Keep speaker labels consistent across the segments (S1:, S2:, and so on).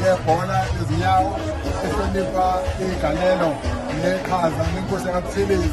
S1: yebhola lezinyawo ehlonipha igalelo neqhaza nenkosi yakabuthelezi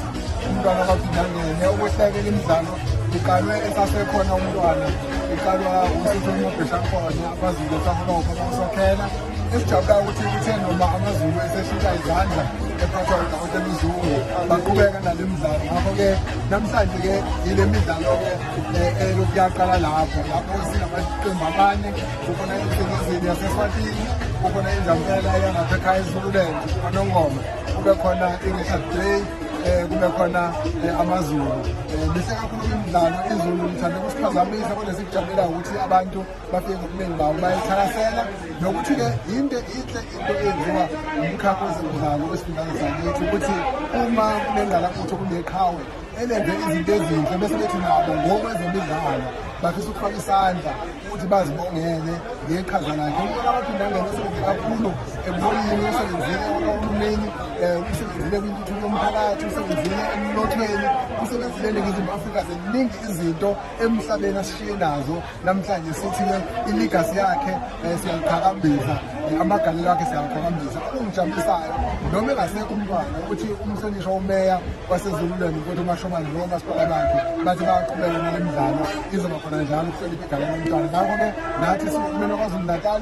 S1: umntwana kaphindangene ukuhlekela imidlalo iqalwe esasekhona umntwana iqalwa ususonomabheshakhona abazulu esaholofa bakusokhela esijabulayo ukuthi kuthe noma amazulu eseshintsha izandla ephathwa udokotela uzungu baqhubeka nale mdlalo ngakho-ke namhlanje-ke yile midlalo-ke eh, elokuyaqala lapho lapho sinamaqembu amane kukhona ihlukuzini yasefatini kukhona injamela yangasekhaya ezululand anongoma kube khona i-richard day um kube khona eh, amazulu um mihle kakhulu imidlalo izulu lithande kusiphazamisa kodwa sikujabula ukuthi abantu bafike ngobuningi bawo bayithakasela nokuthi-ke yinto inhle into eyenziwa umkhakha wezemidlalo wesifundazwe sakithi ukuthi uma kunengalakutho kuneqhawe elenze izinto ezinhle bese bethi nabo ngokwezemidlalo bafisa ukufaka isandla ukuthi bazibongele ngeqhaza lakhe umuntu abaphinde angene usebenze kakhulu ebonini usebenzile uhulumeni um usebenzile kwintuthuko yomphakathi usebenzile emnothweni usebenzile eningizimu afrika ziningi izinto emhlabeni asishiye nazo namhlanje sithi ke iligasi yakhe eh, siyaliqhakambisa eh, amagalelo akhe siyaliqhakambisa okungijabulisayo noma engasekho umntwana ukuthi umhlonishwa umeya wasezululweni ukuthi umashomane lowo masipala bakhe bathi bayaqhubeka nale midlalo izoba khona njalo ukuhlonipha igalelo lomntwana ngakho-ke nathi siwuhulumeni wakwazulu natal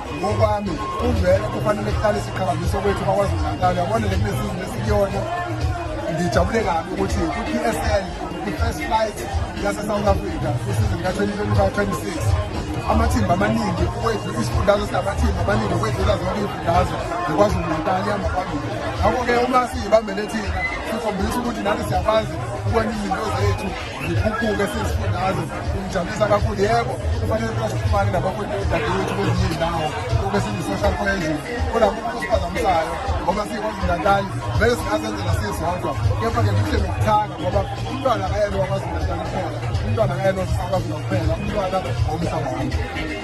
S1: ngokwami kuvele kufanele kuqale siqhakambise kwethu bakwazi unankalo yabona le kunesizini esikuyona ngijabule kabi ukuthi kwi-p s l kwi-first flight yasesouth africa kwisizini ka-2025-26 amathimba amaningi ukwedlu isifundazwe sinamathimba amaningi ukwedlula zonke iy'fundazwe ngikwazi unankalo ihamba phambili ngakho-ke uma siyibambele thina sikhombisa ukuthi nani siyakwazi ukwenza izinto zethu Ngikhuphule siyisifundazwe kungijabulisa kakhulu yebo kufanele kuba sixhumane nabakhweli odadewethu kwezinye izindawo kube singu-social cohesion kodwa kumuntu osiphazamisayo ngoba siyikwazulu-natali vele singazenzela sisodwa kepha-ke kuhle nokuthanga ngoba umntwana akayena wakwazulu-natali kuphela umntwana akayena osisakwazi nokuphela umntwana womhlaba wami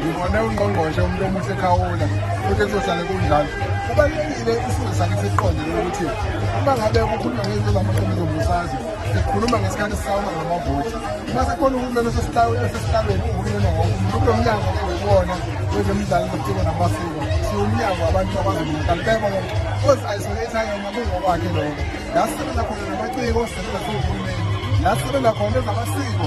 S1: ngibone ungqongqoshe umuntu omuhle ekhawula futhi kuzohlale kunjalo kubalulekile isizwe sakhe siqonde ukuthi uma ngabe kukhulunywa ngezinto zamaqembu zombusazwe sikhuluma ngesikhathi sisawuma ngamavoti uma sikhona uhulumeni osesihlabeni uhulumeni wonke umuntu kulo mnyango wona wezemidlalo zobuciko namasiko siwumnyango abantu abazomdlalo bebona ozi-isolate ayena kungokwakhe lokho la sisebenza khona namaciko sisebenza siwuhulumeni la sisebenza khona ezamasiko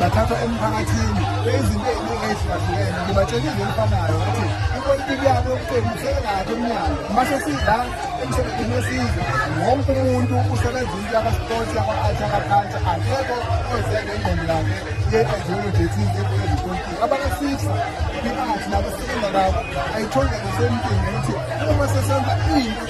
S1: bathathwa emphakathini beyizinto eziningi ezihlukahlukene ngibatshela into elifanayo ukuthi ipolitiki yabo yokuqembu usekekade emnyango mase sidla emsebenzini wesizwe wonke umuntu usebenza into yakasport yaka-art yakaculture akekho ozeke ingqondo yakhe ye-ideology ethize epolitiki abakafisa i-art nabo sikenza kabo ayithole ngasempini ukuthi uma sesenza into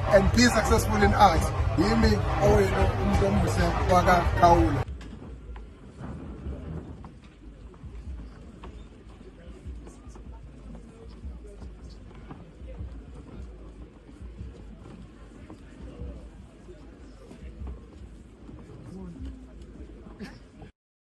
S1: and be successful in art yimi owenu umuntu omuhle wakakhawula